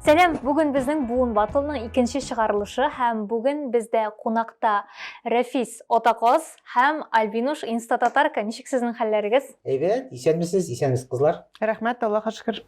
Сәлам, бүген безнең буын батылның икенче чыгарылышы һәм бүген бездә кунакта Рәфис Отакоз һәм Альбинуш Инстататарка. Ничек сезнең хәлләрегез? Әйбәт, исәнмесез, исәнмесез кызлар. Рәхмәт, Аллаһка шөкер.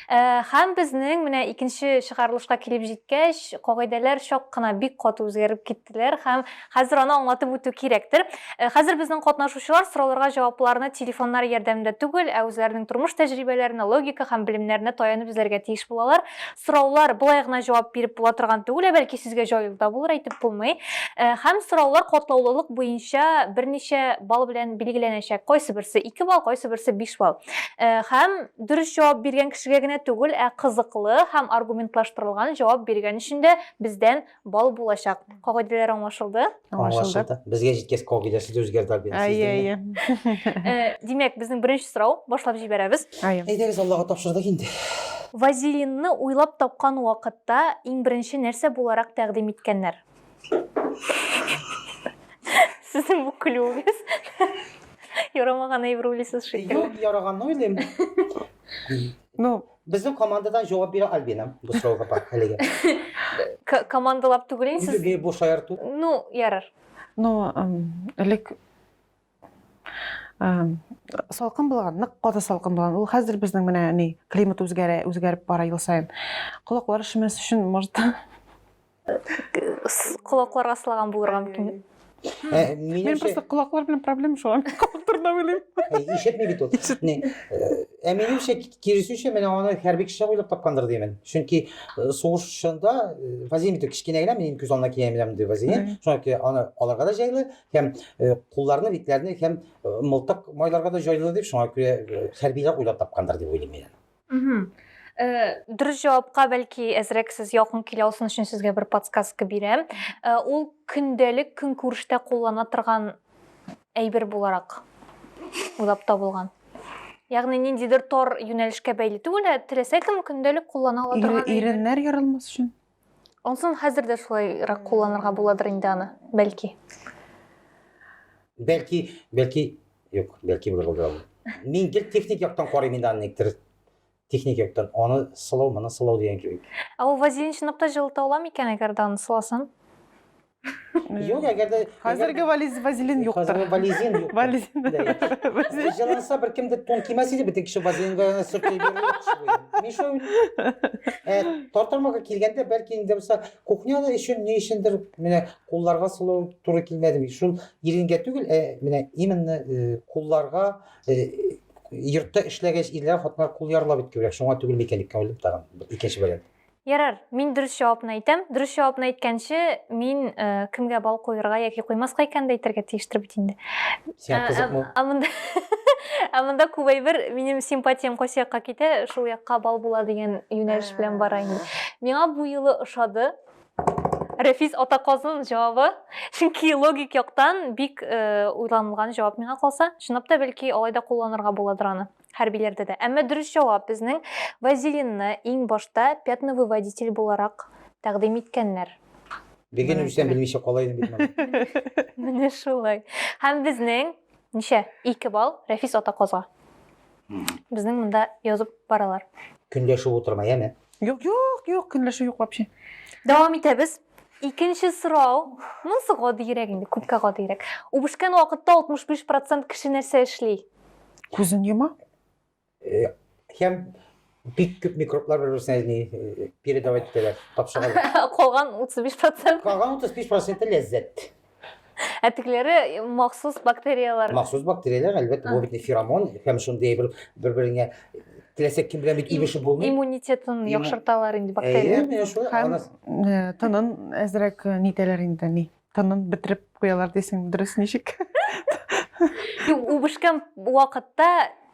Э, һәм безнең менә икенче чыгарылышка килеп җиткәч, кагыйдәләр чак кына бик каты үзгәреп китте. иттеләр һәм хәзер аны аңлатып үтү кирәктер. Э, хәзер безнең катнашучылар сорауларга җавапларны телефоннары ярдәмендә түгел, ә үзләренең тормыш тәҗрибәләренә, логика һәм белемнәренә таянып эзләргә тиеш булалар. Сораулар болай гына җавап биреп була торган түгел, ә бәлки сүзгә җаю да булыр, әйтеп булмый. Э, һәм сораулар катлаулылык буенча берничә балл белән билгеләнәчәк. Кайсы берсе 2 балл, кайсы берсе 5 балл. Э, һәм дөрес җавап биргән кешегә генә түгел, ә кызыклы һәм аргументлаштырылган җавап биргән өчен дә бездән Бал булачак. Кагыйдәләр аңлашылды? Аңлашылды. Безгә җиткәч кагыйдәсе дә үзгәрде Альбина. Әйе, әйе. Э, димәк, безнең беренче сорау башлап җибәрәбез. Әйе. Әйдәгез, Аллага тапшырдык инде. Вазелинны уйлап тапкан вакытта иң беренче нәрсә буларак тәкъдим иткәннәр? Сезнең бу көлүегез ярамаган әйбер уйлыйсыз шикелле. Юк, яраганны уйлыйм. Ну, Безнең командадан җавап бирә Альбина бу сорауга бар әлегә. К- Командалап түгел инде сез. Үзе бу шаярту. Ну, ярар. Ну, эм, элек эм, салкын булган, нык каты салкын булган. Ул хәзер безнең менә ни климат үзгәрә, үзгәреп бара ел саен. Колаклар шемәс өчен, может, Колаклар аслаган булырга мөмкин. Ә, Мин минемчә, просто колаклар белән проблема шуңа мин колак турында уйлыйм. Э, ишетми бит ул. Не, э, Ә минемчә, ки- киресенчә, менә аны хәрби кеше уйлап тапкандыр димен. Чөнки э, сугыш чорында э, вазелин бит кечкенә генә, минем күз алдына килә менә мондый вазелин. Мгм. Шуңа күрә аны аларга да җайлы һәм э, кулларны, битләрне һәм э, мылтык майларга да җайлы дип, шуңа күрә э, хәрбиләр уйлап тапкандыр дип уйлыйм мин. Мгм. Э. Дөрес җавапка бәлки әзрәк сез якын килә алсын өчен сезгә бер подсказка бирәм. Э, ул көндәлек көнкүрештә куллана торган әйбер буларак уйлап табылган. Ягъни ниндидер тар юнәлешкә бәйле түгел, ә теләсә кем көндәлек куллана ала Ире- торган әйбер. Иреннәр ярылмас өчен. Онсын хәзер дә шулайрак кулланырга буладыр инде аны, бәлки. Бәлки, бәлки, юк, бәлки булыр булды ул. Мин гел техник яктан карыйм инде аны никтер. Техник яктан аны сылау, моны сылау дигән кебек. Ә ул вазелин чынлап та җылыта ала микән, әгәр дә аны сыласын? Юк, әгәр дә Хәзерге вализ вазелин юктыр. Хәзерге вализин юк. Вализин. Вазелин. Җыланса бер кем дә тон кимәс иде, бит кеше вазелинга гына сөртеп йөрү. Миша э, тартырмага килгәндә, бәлки инде булса, кухняда өчен ни өчендер менә кулларга сылу туры килмәде бит. Шул иренгә түгел, ә менә именно э, кулларга э, йортта эшләгәч ирләр хатыннар кул ярлар бит күбрәк. Шуңа түгел микән дип кем белеп тагын. Икенче вариант. Ярар, мин дөрес җавапны әйтәм. Дөрес җавапны әйткәнче, мин э, кемгә бал куерга яки куймаска икәнен дә әйтергә тиештер бит инде. Сиңа Ә, кызыкмы? ә, Ә монда Ә монда күп әйбер минем симпатиям кайсы якка китә, шул якка бал була дигән юнәлеш белән бара инде. Миңа бу юлы ошады. Рәфис Атаказын җавабы, чөнки логик яктан бик э, уйланылган җавап миңа калса. Чынлап та бәлки алай да кулланырга буладыр аны. Хәрбиләрдә дә. Әмма дөрес җавап, безнең вазелинны иң башта пятновыводитель буларак тәкъдим иткәннәр. Бегин үлсәм белмичә кала идем бит менә. Менә шулай. Һәм безнең ничә? 2 балл Рәфис Атаказга. Безнең монда язып баралар. Көнләшеп утырма, яме? Юк, юк, юк, көнләшү юк вообще. Дәвам итәбез. Икенче сорау, монысы гадиерәк инде, күпкә гадиерәк. Үбешкән вакытта 65 процент кеше нәрсә эшли? Күзен йома. Э, һәм бик күп микроблар бер берсенә не э, передавать итәләр, тапшыралар. Калган 35 процент. Калган 35 проценты ләззәт. Ә тегеләре э, махсус бактерияләр. Махсус бактерияләр, әлбәттә, бу бит феромон һәм шундый бер бер-береңә теләсә кем белән бит имешеп булмый. Иммунитетын Имму- яхшырталар инде Әйе, бактерияләр. менә шулай. Һәм- Ана- Э, тынын әзрәк э, нитәләр инде ни тынын бетереп куялар дисең дөрес ничек Юк, үбешкән вакытта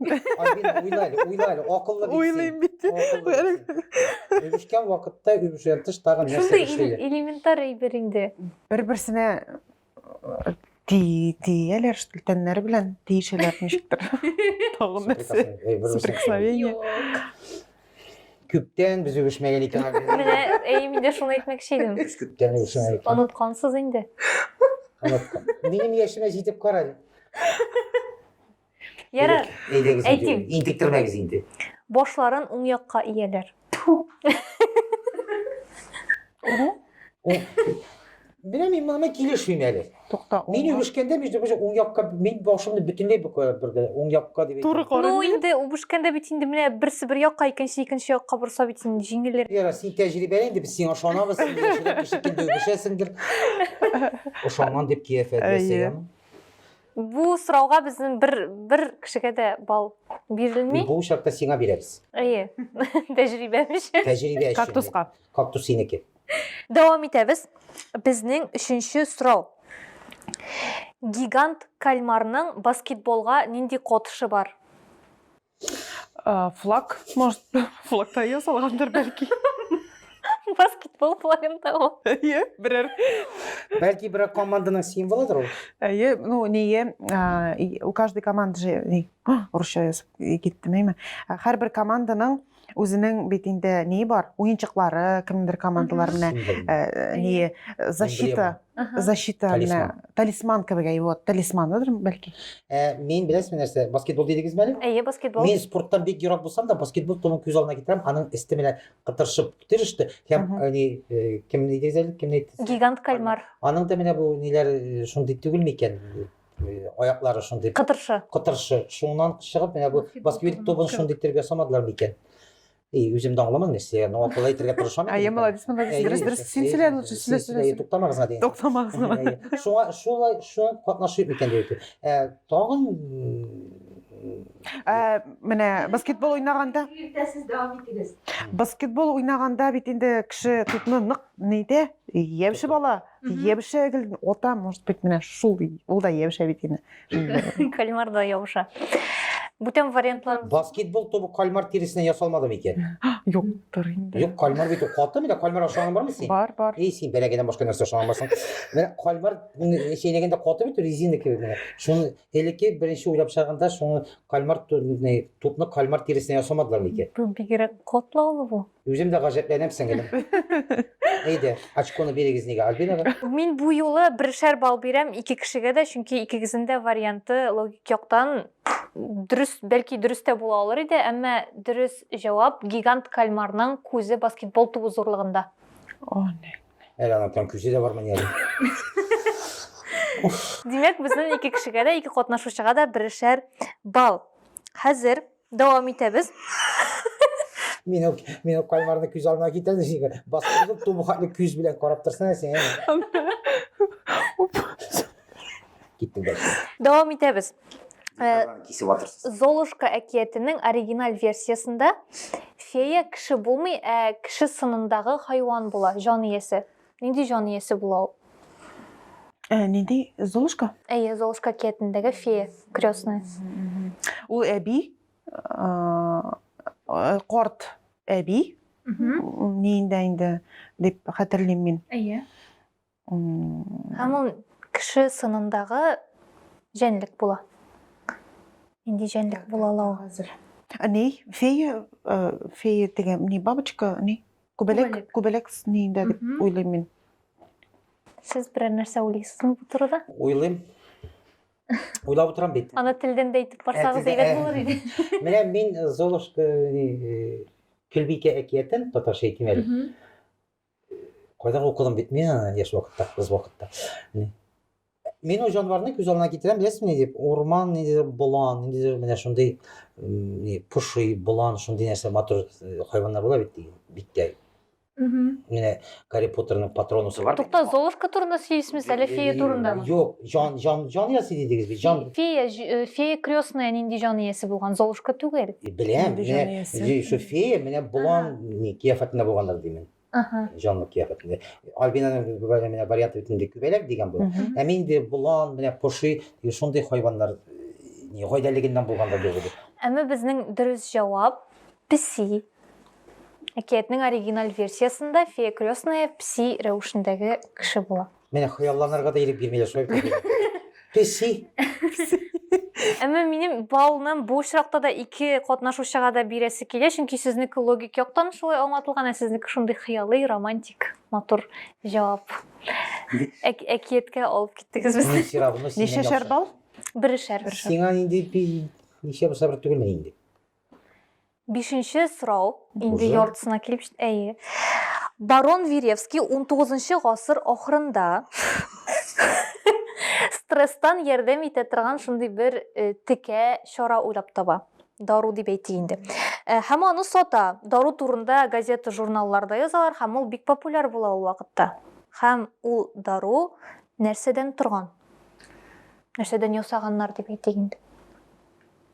Ай, бин, уйла әле, уйла әле, акыллы бит син. Уйлыйм бит. Акыллы бит син. Үбешкән вакытта үбешүдән тыш тагын нәрсә Шундый эл- эшлиләр? элементар әйбер инде. Бер-берсенә э, ти- тияләр, что ли, тәннәре белән тиешәләр ничектер. Тагын нәрсә. Суприкасный, эй, бер-берсен супер. Соприкосновение. Күптән без үбешмәгән икән. ай, бин. Менә әй мин дә шуны әйтмәкче идем. Без күптән үбешмәгән икән. Оныткансыз инде. Оныттым. Минем яшемә җитеп кара әле. Ярар. Әйдәгез. Әйтим. Интектермәгез инде. Башларын уң якка ияләр. Менә мин моны килешмим әле. Тукта. Мин үбешкәндә бит бу уң якка мин башымны бөтенләй бу кая бирде. Уң якка дип. Туры карый. Ну инде үбешкәндә бит инде менә берсе бер якка, икенче икенче якка борса бит инде җиңелер. Яра, син тәҗрибәле инде без сиңа ышанабыз. Син яшереп кеше килде үбешәсеңдер. Ошанган дип кияфәт ясаган. Бу сорауга безнең бер бер кешегә дә балл бирелми. Бу очракта сиңа бирәбез. Әйе. Тәҗрибәм өчен. Тәҗрибә өчен. Кактуска. Кактус синеке. Дәвам итәбез. Безнең өченче сорау. Гигант кальмарның баскетболга нинди котышы бар? флаг может флагта ясалгандыр бәлки баскетбол флагын табу әйе берәр бәлки берәр команданың символыдыр ул әйе ну ние у каждой команды же русча язып киттем әйме һәрбер команданың ә, Үзенең бит инде ни бар? Уенчыклары, кемдер командалар менә э, ни э, защита, защита менә талисман кебек әй вот, талисманыдыр бәлки. Ә, Мин беләсез нәрсә, баскетбол дидегез әле? Әйе, баскетбол. Мин спорттан бик ерак булсам да, баскетбол томын күз алдына китерәм, аның өсте менә кытыршып тиреште. Һәм ни кем дидегез әле? Кем әйтте? Гигант кальмар. Аның да менә бу ниләр шундый түгелме икән? аяклары шундый кытыршы кытыршы шуннан чыгып менә бу басквит тубын шундый итәргә самадылар микән и үзем дә аңламадым нәрсә но акыллы итәргә тырышам әйе молодец молодец дөрес дөрес син сөйлә лучше сөйлә сөйлә туктамагыз гына дигән туктамагыз гына шуңа шулай шуңа катнашып микән дип тагын менә баскетбол уйнаганда иртәсез дәвам итегез баскетбол уйнаганда бит инде кеше тутны нык ни итә яучы бала Ябыша гел ота, может быть, менә шул ул да ябыша бит инде. Кальмар да ябыша. Бүтән вариантлар. Баскетбол тобы кальмар тиресеннән ясалмады микән? Юктыр инде. Юк, кальмар бит каты менә кальмар ашаган бармы син? Бар, бар. Эй, син бәләгәдән башка нәрсә ашаган барсың? Менә кальмар чәйнәгәндә каты бит резина кебек менә. Шуны элекке беренче уйлап чыгарганда шуны кальмар тупны кальмар тиресеннән ясамадылар микән? Бу бигрәк катлаулы бу. Үзем дә гаҗәпләнәм сеңелем. Әйдә, очконы бирегез нигә Альбинага? Мин бу юлы бершәр балл бирәм ике кешегә дә, чөнки икегезнең дә варианты логик яктан дөрес, бәлки дөрес тә була алыр иде, әмма дөрес җавап гигант кальмарның күзе баскетбол тубы зурлыгында. О, не. Әле аның прям күзе дә бармы ни әле? Димәк, безнең ике кешегә дә, ике катнашучыга да бершәр балл. Хәзер Дәвам итәбез. Мин үк, мин үк каймарны күз алдына китердем, синең басып тубы хатлы күз белән карап торсана син. Киттем дә. Дәвам итәбез. Э, кисеп атырсыз. Золушка әкиятенең оригиналь версиясендә фея кеше булмый, ә кеше сынындагы хайван була, җан иясе. Нинди җан иясе була ул? Ә, нинди Золушка? Әйе, Золушка киятендәге фея, крестная. Ул әби, корт әби, ниендә инде дип хәтерлим мин. Әйе. Һәм ул кеше сынындагы җәнлек була. Нинди җәнлек була ла ул? Ни, фея, фея дигән, ни, бабочка, ни? Күбәләк, Күбәләк. күбәләк ниендә дип Мгм. уйлыйм мин. Сез берәр нәрсә уйлыйсызмы бу турыда? Уйлыйм. Уйлап утырам бит. Аны телдән дә әйтеп барсагыз Әтидә- әйбәт булыр иде. Менә мин э, Золушка э, Көлбикә әкиятен татарча әйтим әле. Мгм. Кайда укыдым бит мин аны яшь вакытта, кыз вакытта. Мин ул җанварны күз алдына китерәм, беләсезме ни дип, урман ниндидер болан, ниндидер менә шундый ни поши, болан, шундый нәрсә матур э, хайваннар була бит диген, биттә. Менә Гарри Поттерның патронусы бар. Тукта, Золушка турында сөйлисез әле фея турындамы? Юк, җан җан җан иясе дидегез бит, җан. Фея, э, фея крестная нинди җан иясе булган, Золушка түгел. Беләм, менә фея, менә болан, ни кияфәтендә булганнар димен. Ага. Җанлы кыяфәт инде. Альбинаның бер менә варианты бит инде күбәләк дигән була. Мгм. Ә мин инде болан, менә поши, и шундый хайваннар э, не, гайдәлегеннән булганда дип уйлыйм. Әмма безнең дөрес җавап песи. Әкиятнең оригиналь версиясендә фея крестная песи рәвешендәге кеше була. Менә хыялланырга да ирек бирмиләр шулай бит. Песи. Әмма минем балны бу очракта да ике катнашучыга да бирәсе килә, чөнки сезнеке логик яктан шулай аңлатылган, ә сезнеке шундый хыялый, романтик, матур җавап. Әк- Әкияткә алып киттегез Мин безне. сирагымны синнән Ничә яхшы. шәрбал? Берешәр. Сиңа инде би- ничә бусабыр түгелме инде? Бишенче сорау, инде яртысына килеп җит, әйе. Барон Веревский унтугызынчы гасыр ахырында стресстан ярдәм итә торган шундый бер э, текә чара уйлап таба дару дип әйтик инде э, һәм аны сата дару турында газета журналларда язалар һәм ул бик популяр була ул вакытта һәм ул дару нәрсәдән торган нәрсәдән ясаганнар дип әйтик инде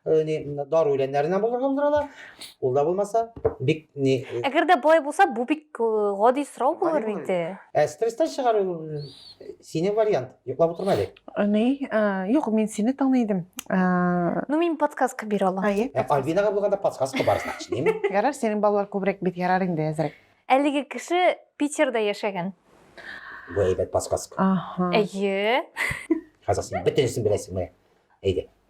Э, не дару белән нәренә булдыралар ала ул да булмаса бик не э, әгәр дә болай булса бу бик э, гади сорау булыр бит ә стресстан чыгару сине вариант йоклап утырма әле ни юк мин сине таный идем ну мин подсказка бирә алам альбинага булганда подсказка бар значит неме ярар синең балалар күбрәк бит ярар инде әзрәк әлеге кеше питерда яшәгән бу әйбәт подсказка әйе хәзер син бөтенесен беләсеңме әйдә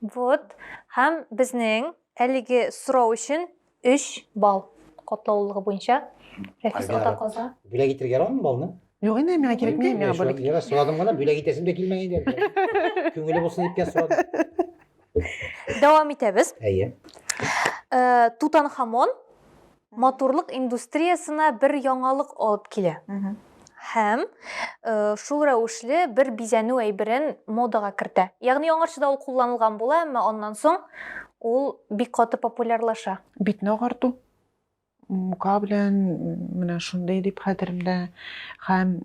Вот, һәм безнең әлеге сорау өчен 3 балл катлаулылыгы буенча Рәфис Альбина. ата каза. Бүләк итергә ярамы балны? Юк инде, миңа кирәкми, миңа бүләк. Юра, сорадым гына, бүләк итәсем дә килмәгән иде. Күңеле булсын дип кенә сорадым. Дәвам итәбез. Әйе. Э, Тутанхамон матурлык индустриясенә бер яңалык алып килә. Һәм шул рәвешле бер бизәнү әйберен модага кертә. Ягъни аңарчыда ул кулланылган була, әмма аннан соң ул бик каты популярлаша. Битне агарту. Мука белән менә шундый дип хәтеремдә. Һәм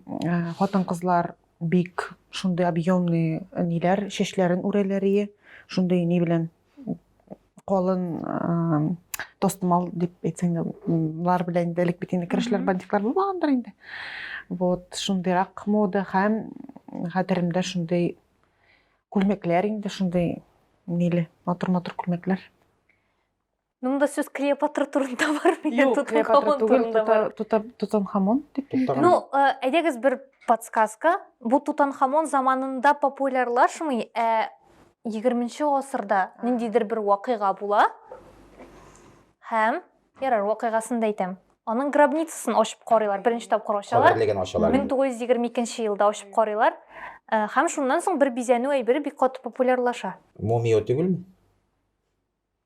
хатын-кызлар бик шундый объемный ниләр чәчләрен үрәләр ие. Шундый ни белән? колын тостымал дип әйтсәң дә болар белән инде элек бит инде керәшләр бандитлар булмагандыр инде вот шундыйрак мода һәм хәтеремдә шундый күлмәкләр инде шундый ниле матур матур күлмәкләр Мында сүз Клеопатра турында бар микән? Тутанхамон турында бар. Тутанхамон дип. Ну, әйдәгез бер подсказка. Бу Тутанхамон заманында популярлашмый, ә 20-нче гасырда ниндидер бер вакыйга була һәм, ярар, вакыйгасын да әйтәм, аның гробницасын ачып карыйлар, беренче тапкыр ачалар. Каберлеген ачалар. 1922 елда ачып карыйлар. Э, һәм шуннан соң бер бизәнү әйбере бик каты популярлаша. Мумия түгелме?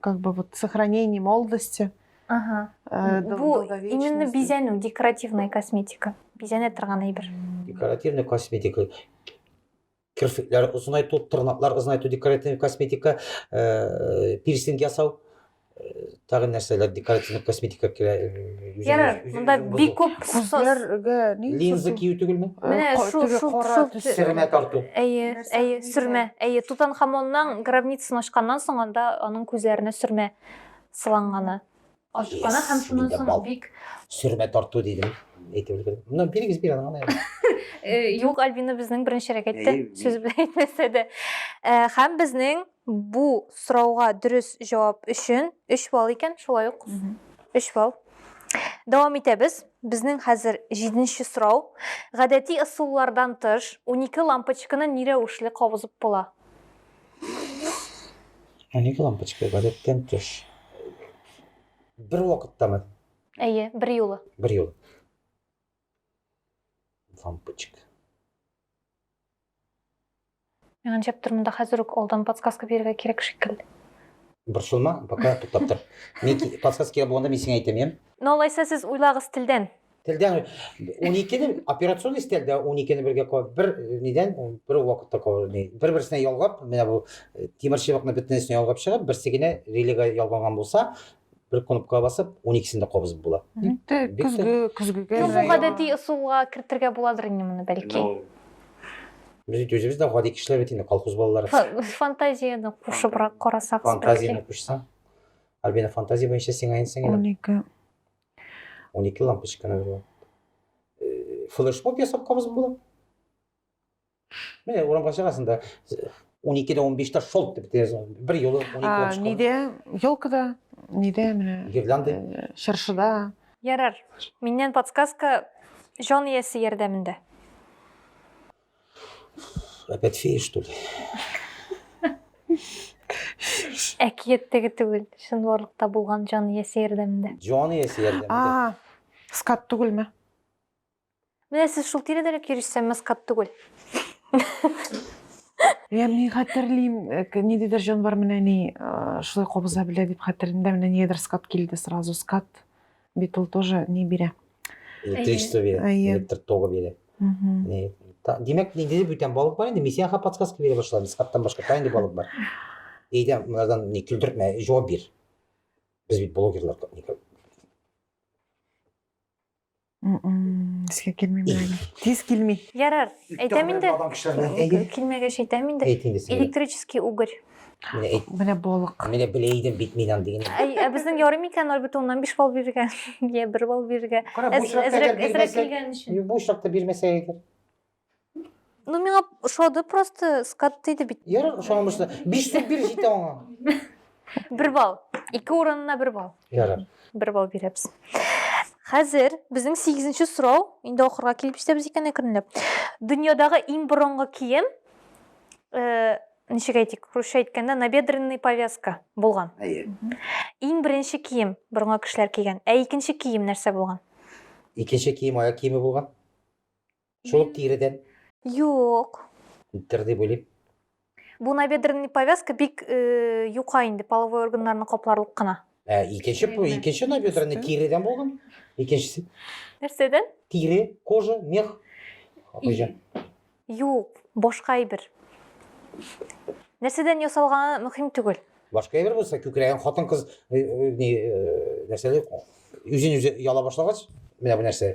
как бы вот сохранение молодости. Ага. Э, Бу именно бизәнү, декоративная косметика. Бизәнә торган әйбер. Декоративная косметика. Керфекләр озынайту, тырнаклар озынайту, декоративная косметика, э, пирсинг ясау тагы нәрсәләр декоративный косметика керә ярар монда бик күп күзләргә линза кию түгелме менә шул шул шул тарту әйе Әйе, сөрмә. Әйе, Тутанхамонның гробницасын ачканнан соң анда аның күзләренә сөрмә сыланганы. Ачканы һәм шуннан соң бик сөрмә тарту дидем. Әйтеп өлгердем. Моннан бирегез бир аны. Юк, Альбина безнең беренчерәк әйтте, сүз белән әйтмәсә дә. Һәм безнең Бу сорауга дөрес җавап өчен 3 балл икән, шулай ук 3 балл. Дәвам итәбез. Безнең хәзер җиденче сорау. Гадәти ысуллардан тыш, унике лампочканы ни рәвешле кабызып була? Унике лампочка гадәттән тыш. Бер вакыттамы? Әйе, бер юлы. Бер юлы. Лампочка. Мен ганҗәп тормын да хәзер үк алдан подсказка бирергә кирәк шикелле. Борчылма, пока туктап тор. Мин подсказка кирәк булганда мин сиңа әйтәм, яме? Ну алайса сез уйлагыз телдән. Телдән 12 не операционный стель дә 12 не бергә куып, бер нидән, бер вакытта куып, бер-берсенә ялгап, менә бу тимерчыбыкны бөтенесенә ялгап чыгып, берсе генә релега ялганган булса, Бер кнопкага басып, 12-сен дә кабызып була. Инде көзге, көзгегә. Юк, бу гадәти ысулга кертергә буладыр инде моны, бәлки. Без бит үзебез дә гади кешеләр бит инде, колхоз балалары. Фантазияне кушыбрак карасак. Фантазияне кушсаң. Альбина, фантазия буенча сиңа инсең инде. 12. 12 лампочканы була. Флешмоб ясап кабызып була. Менә урамга чыгасың да, 12-дә 15-тә шолт дип тезон. Бер юлы 12 А, булып чыга. Нидә? Елкада, нидә менә? Гирлянда. э, Чыршыда. Ярар. Миннән подсказка җан иясе ярдәмендә. Опять фея, что ли? Әкияттәге түгел, чынбарлыкта булган җан иясе ярдәмендә. Җан иясе ярдәмендә. А, скат түгелме? Менә сез шул тирәдә лә кирешсәм маскат түгел. Я мин хәтерлим, э, к- ниндидер җанвар менә ни э, шулай кабыза белә дип хәтерлим дә, менә нигәдер скат килде сразу. Скат бит ул тоже ни бирә. Электричество бирә, Әйе. электр тогы бирә. Мгм. Э, та- Димәк, ниндидер бүтән балык бар инде. Мин сиңа подсказка бирә башладым. Скаттан башка та инде балык бар. Әйдә, мынадан не көлдертмә, җавап бир. Без бит блогерлар как-никак. Искә килми менә. Тиз килми. Ярар, әйтәм инде. Килмәгәч әйтәм инде. Электрический угорь. Менә балык. Менә белә идем бит мин аны дигән. Ә безнең ярый микән альбит уннан 5 балл бирергә? Я 1 балл бирергә. Әзрәк килгән өчен. Бу очракта бирмәсә әйдер. Ну, миңа ошады просто, скат тиде бит. Ярар, ошаган булса, 5 дип бир җитә аңа. Бер балл. Ике урынына бер балл. Ярар. Бер балл бирәбез. Хәзер безнең 8нче сорау, инде ахырга килеп җитәбез икән әкренләп. Дөньядагы иң борынгы кием э, ничек әйтик, русча әйткәндә набедренный повязка булган. Әйе. Иң беренче кием борынгы кешеләр кигән. Ә икенче кием нәрсә булган? Икенче кием аяк киеме булган. Шул ук тиредән? Юк. Күптер дип уйлыйм. Бу набедренный повязка бик э, юка инде, половой органнарны капларлык кына. Ә икенче Тиредән. икенче набедренный Икенчесе? тиредән булган. Икенчесе Нәрсәдән? тире, кожа, мех. Хуҗа. Юк, башка әйбер. Нәрсәдән ясалганы мөһим түгел. Башка әйбер булса, күкрәген хатын-кыз э, э, ни, э, нәрсәле, үзен үзе яла башлагач, менә бу нәрсә.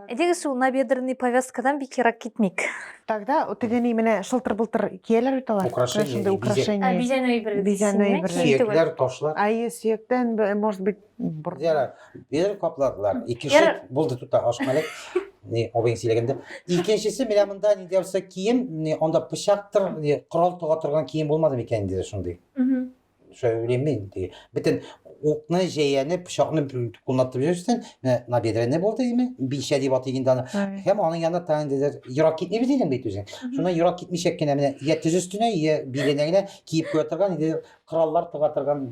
Әйдәгез шул набедренный повязкадан бик ерак китмик. Тогда теге ни менә шылтыр-былтыр кияләр бит алар. Украшение, Менә шундый бизәк. украшение. Бизәнү әйбере. Бизәнү дисеңме? әйбере. Кием түгел. Сөякләр, ташлар. Әйе, сөяктән, б- может быть, бер... Ярар, бер капладылар. Икенче Ярар. булды тута ашмалек. Ни, абыйң сөйләгәндә. Икенчесе менә монда ни дәрсә кием, ни, анда пычактыр, ни, корал тога торган кием булмады микән инде шундый. Мгм. современный теге бөтен укны җәяне пычакны кулланып йөрсен набедренный булды име билчә дип атый инде аны һәм аның янына тагын диләр ерак китмибез дидең бит үзең шуннан ерак китмичәк кенә менә йә тез өстенә йә биленә генә киеп куя торган инде кораллар тыга торган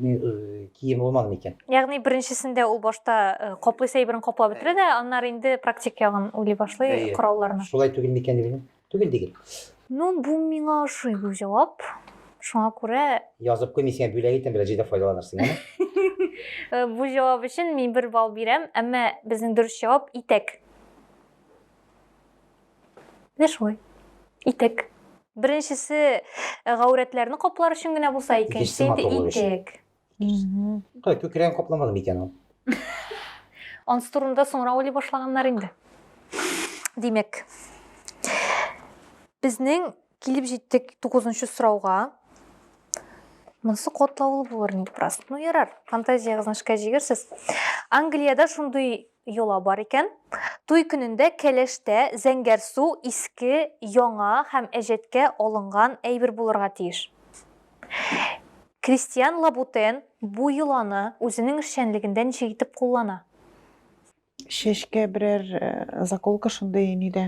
кием булмаган икән ягъни беренчесендә ул башта э, каплыйсы әйберен каплап бетерә дә аннары инде практик ягын уйлый башлый коралларны шулай түгел микән дип Түгел дигел. Ну, бу миңа ошый бу җавап. Шуңа күрә Язып куй, мин сиңа бүләк итәм, бераз җыйда файдаланырсың, әме? Э, бу җавап өчен мин бер балл бирәм, әмма безнең дөрес җавап итәк. Менә шулай. Итәк. Беренчесе э, гаурәтләрне каплар өчен генә булса, икенчесе инде матурлык өчен. итәк. Кай күкрәген капламадым икән ул. Ансы турында соңра уйлый башлаганнар инде. Димәк, безнең килеп җиттек 9-нчы сорауга. Монсы котлаулы булыр ник бераз. Ну ярар, фантазиягезне эшкә җигерсез. Англиядә шундый йола бар икән. Туй көнендә кәләштә зәңгәр су иске, яңа һәм әҗәткә алынган әйбер булырга тиеш. Кристиан Лабутен бу йоланы үзенең эшчәнлегендә ничек итеп куллана? Чәчкә берәр заколка шундый нидә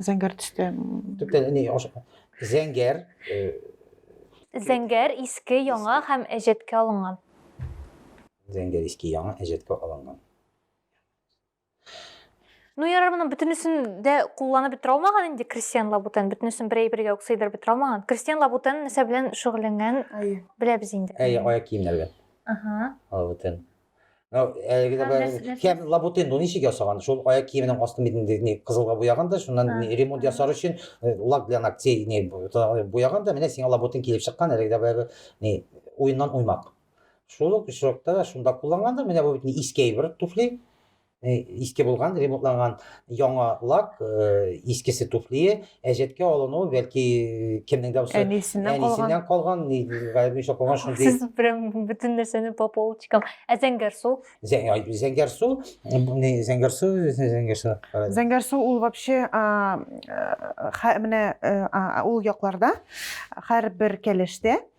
зәңгәр төстә. Төптән ни зәңгәр Зәңгәр иске яңа һәм әҗәткә алынган. Зәңгәр иске яңа әҗәткә алынган. Ну, ярар, моның бөтенесен дә кулланып бетерә алмаган инде Кристиан Лабутен. Бөтенесен бер әйбергә үк сыйдырып бетерә алмаган. Кристиан Лабутен нәрсә белән шөгыльләнгән беләбез инде. Әй, аяк киемнәргә. Ага. Лабутен. Ну, әлеге дә бер кем Лабутен ну ничек ясаган? Шул аяк киеменең астын бит инде не кызылга буяган да, шуннан не ремонт ясар өчен э, лак для ногтей не буяган да, менә сиңа Лабутен килеп чыккан, әлеге дә бер не уеннан уймак. Шул ук очракта да шунда кулланганда, менә бу бит не иске бер туфли, э, иске булган, ремонтланган яңа лак, э, искесе туфлие, әҗәткә алыну, бәлки э, кемнең дә булса әнисеннән калган. Әнисеннән калган, ни гайбиша калган шундый. Сез прям бөтен нәрсәне по полочкам. Ә зәңгәр су? Зәңгәр су, не зәңгәр су, зәңгәр су. Зәңгәр су ул вообще менә ул якларда һәрбер кәләштә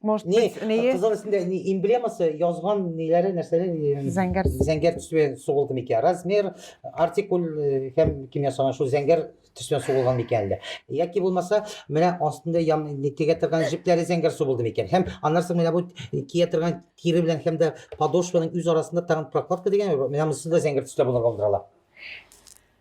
Может не, быть, не... Кызыл өстендә не эмблемасы язган ниләре нәрсәләр зәңгәр зәңгәр төсве сугылды микән? Размер, артикул һәм кем ясаган шул зәңгәр төсве сугылган микән әллә? Яки булмаса, менә астында ям тигә торган җепләре зәңгәр сугылды микән? Һәм аннан соң менә бу кия торган кире белән һәм дә подошваның үз арасында тагын прокладка дигән, менә монысы да зәңгәр төстә булырга булдыралар.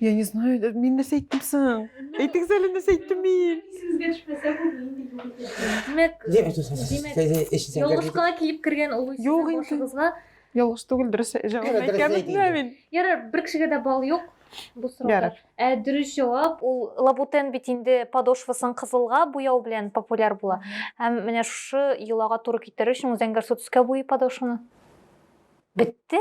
Я не знаю, да, мин нәрсә әйттем соң? Әйтегез әле нәрсә әйттем мин? Исегезгә төшмәсә бу нинди юл итә? Димәк, Димәк, дус, дус, дус, Димәк, дус, дус, эшне сәнгәргә- ялгышка килеп кергән олы Юк инде. башыгызга. Ялгыш түгел, дөрес җавап Дөрес әйткән бит әйтте. менә мин. Ярар, бер кешегә дә балл юк бу сорауга. Ярар. Ә дөрес җавап ул лабутен бит инде подошвасын кызылга буяу белән популяр була. Һәм менә шушы йолага туры китерер өчен зәңгәрсу төскә буйый подошваны. Бетте?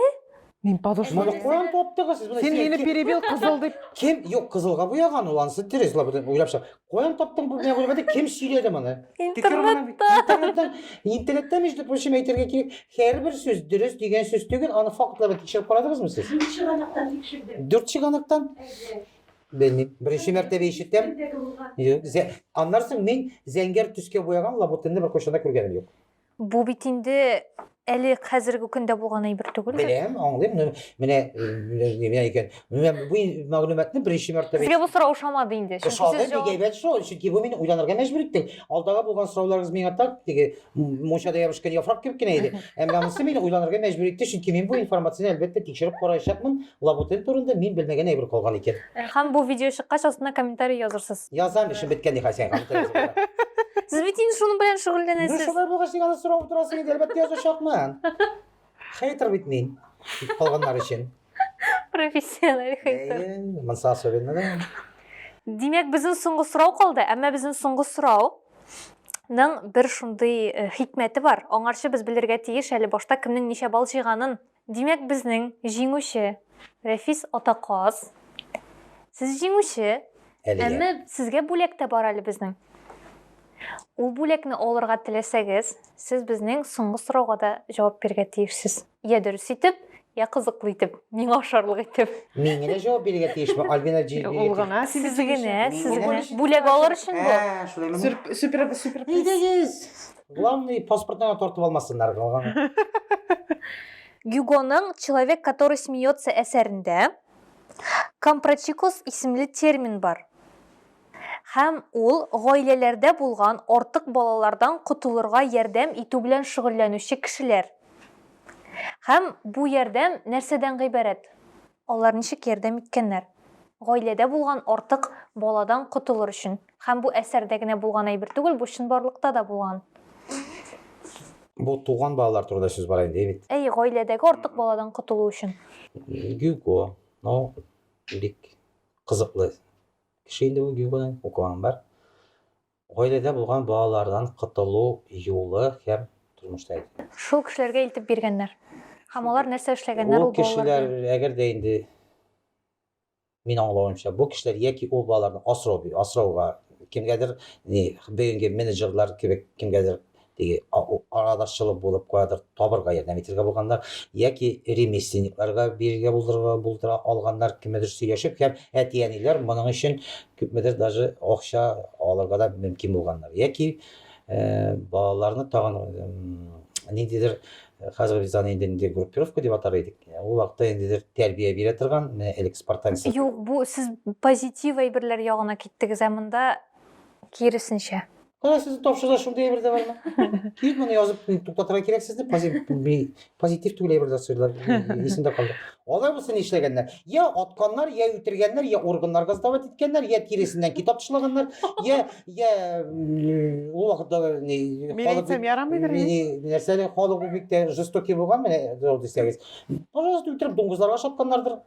Мин подушка. Моны каян таптыгыз сез? Син мине перебил кызыл дип. Кем? Юк, кызылга буяган ул ансы дөрес, лап белән уйлап чык. Каян таптың бу менә уйлады? Кем сөйләде моны? Интернетта. Интернетта. Интернетта между прочим әйтергә кирәк, һәрбер сүз дөрес дигән сүз түгел, аны фактларда тикшереп карадыгызмы сез? Дүрт чыганыктан тикшердем. Дүрт чыганыктан? Белмим. Беренче мәртәбә ишетәм. Аннарсын мин зәңгәр төскә буяган лабутенны бер кайчан да күргәнем юк. Бу бит инде әле хәзерге көндә булган әйбер түгел. Беләм, аңлыйм. Ну, менә менә икән. Менә бу мәгълүматны беренче мәртәбә Сезгә бу сорау ошамады инде. Чөнки Шагыйрь сез җавап... әйбәт шул, чөнки бу мине уйланырга мәҗбүр итте. Алдагы булган сорауларыгыз миңа так теге мунчада ябышкан яфрак кебек кенә иде. Әмма монысы мине уйланырга мәҗбүр итте, чөнки мин бу информацияне әлбәттә тикшереп караячакмын, Лабутен турында мин белмәгән әйбер калган икән. Э, һәм бу видео чыккач астына комментарий язырсыз. Язам, эшем беткән нихәл сиңа комментарий язарга. Сез бит инде шуның белән Ну шөгыльләнәсез. шулай булгач син аны сорап утырасың инде, әлбәттә язачакмын. Хейтер бит мин. Китеп калганнар өчен. Профессиональ хейтер. Әйе, Монсы особенно да. Димәк, безнең соңгы сорау калды, әмма безнең соңгы сорау ның бер шундый э, хикмәте бар. Аңарчы без белергә тиеш әле башта кемнең ничә балл җыйганын. Димәк безнең җиңүче Рәфис Атаказ. Сез җиңүче. Әлегә. Әмма сезгә бүләк тә бар әле безнең. Ул бүләкне алырга теләсәгез, сез безнең соңгы сорауга да җавап бирергә тиешсез. Я дөрес итеп, я кызыклы итеп, миңа ошарлык итеп. Мин генә җавап бирергә тиешме, Альбина җи- Ул бирергә гына тиеш. Сез генә, сез генә. Бүләк алыр өчен бу. Ә, шулаймыни? Супер, супер. Әйдәгез! Главный паспортыңа тартып алмасыннар калганы. Гюгоның Человек, который смеется әсәрендә компрочикос исемле термин бар. Һәм ул гаиләләрдә булган артык балалардан котылырга ярдәм итү белән шөгыльләнүче кешеләр. Һәм бу ярдәм нәрсәдән гыйбарәт? Алар ничек ярдәм иткәннәр? Гаиләдә булган артык баладан котылыр өчен. Һәм бу әсәрдә генә булган әйбер түгел, бу чынбарлыкта да булган. Бу туган балалар турында сүз бара инде, бит. Әйе, гаиләдәге артык баладан котылу өчен. Гюго, ну, бик кызыклы кеше инде ул, Гюгоны укыганым бар. Гаиләдә булган балалардан котылу юлы һәм тормышта әйтелгән. Шул кешеләргә илтеп биргәннәр. Һәм алар нәрсә эшләгәннәр ул балалар белән? Ул кешеләр, әгәр дә инде, мин аңлавымча, бу кешеләр яки ул балаларны асрау, асрауга, кемгәдер, ни, бүгенге менеджерлар кебек кемгәдер теге арадашчылык булып кадр табырга ярдәм итергә булганнар, яки ремесленникларга бирергә булдырга булдыра алганнар, кемедер сөйләшеп һәм әти-әниләр моның өчен күпмедер даже акча алырга да мөмкин булганнар. Яки балаларны тагын ниндидер хәзер без аны инде группировка дип атар идек. Ул вакытта инде тәрбия бирә торган, менә элек спартанец. Юк, бу сез позитив әйберләр ягына киттегез, ә монда киресенчә. Кара сез тапшырда шундый әйбер дә бармы? Кит моны язып туктатырга кирәк сезне. Позитив түгел әйбер дә сөйләр. Исемдә калды. Алар булса нишләгәннәр? Я атканнар, я үтергәннәр, я органнарга сдавать иткәннәр, я тиресеннән китап тышлаганнар, я я ул вакытта ни Милициям ярамыйдыр инде. Нәрсә халык бик тә жестокий булган менә дисәгез. Пожалуйста, үтереп дуңгызларга шапканнардыр.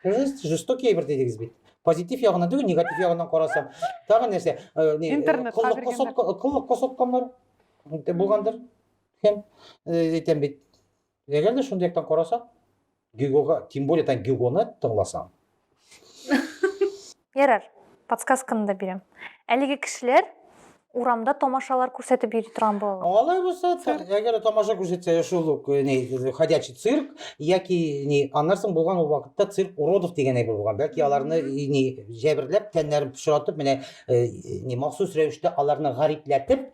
Жест, жестокий әйбер дидегез бит. Позитив ягына түгел, негатив ягыннан карасам. Тагы нәрсә? Э, не, э, Интернетка кыллыкка биргәннәр. сатка- Кыллыкка сатканнар э, булгандыр. Һәм э, әйтәм бит. Әгәр дә шундый яктан карасак, Гюгога, тем более тан Гюгоны тыңласаң. Ярар, подсказканы да бирәм. Әлеге кешеләр урамда тамашалар күрсәтеп йөри торган балалар. Алай булса, әгәр тамаша күрсәтсә, шул ук э, ни ходячий цирк яки ни аннан соң булган ул вакытта цирк уродов дигән әйбер булган. Бәлки аларны э, ни җәберләп, тәннәрен пычратып, менә э, ни махсус рәвештә аларны гарипләтеп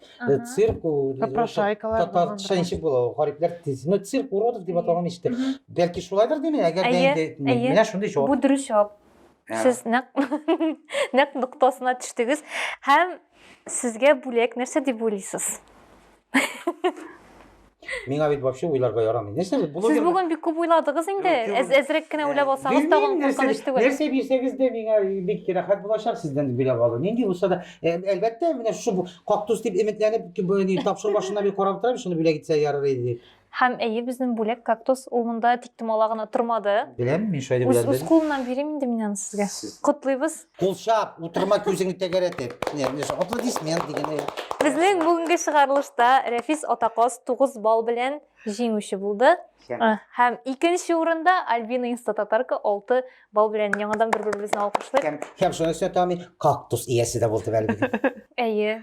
цирк попрошайкалар татарча ничек була ул гарипләр ну цирк уродов дип аталган ишетте. Бәлки шулайдыр димен, әгәр дә инде менә шундый җавап. Бу дөрес җавап. Ә. Сез нәкъ нәкъ ноктасына төштегез һәм сезгә бүләк нәрсә дип уйлыйсыз? Миңа бит вообще уйларга ярамый. Нәрсә бит блогер? Сез бүген бик күп уйладыгыз инде. Әз әзрәк кенә уйлап алсагыз тагын куркыныч түгел. Нәрсә бирсәгез дә миңа бик рәхәт булачак сездән биләп алу. Нинди булса да, әлбәттә, менә шушы кактус дип өметләнеп, тапшыру башына бик карап торам, шуны бүләк итсә ярар иде. Һәм, әйе, безнең бүләк, кактус, ул монда тик томала гына тормады. Беләм, мин шулай дип Үз, уйландым. үз кулымнан бирим инде мин аны сезгә. Сез- Котлыйбыз. Кул чап, утырма күзеңне тәгәрәтеп. Не, не, аплодисмент дигән. э, Безнең бүгенге чыгарылышта Рәфис Атаказ 9 балл белән җиңүче булды. Һәм- А, Һәм икенче урында Альбина Инстататарка 6 балл белән яңадан бер-беребезне алкышлыйк. Һәм, һәм шуның өстенә тагын мин кактус иясе дә булдым әле бүген. Әйе.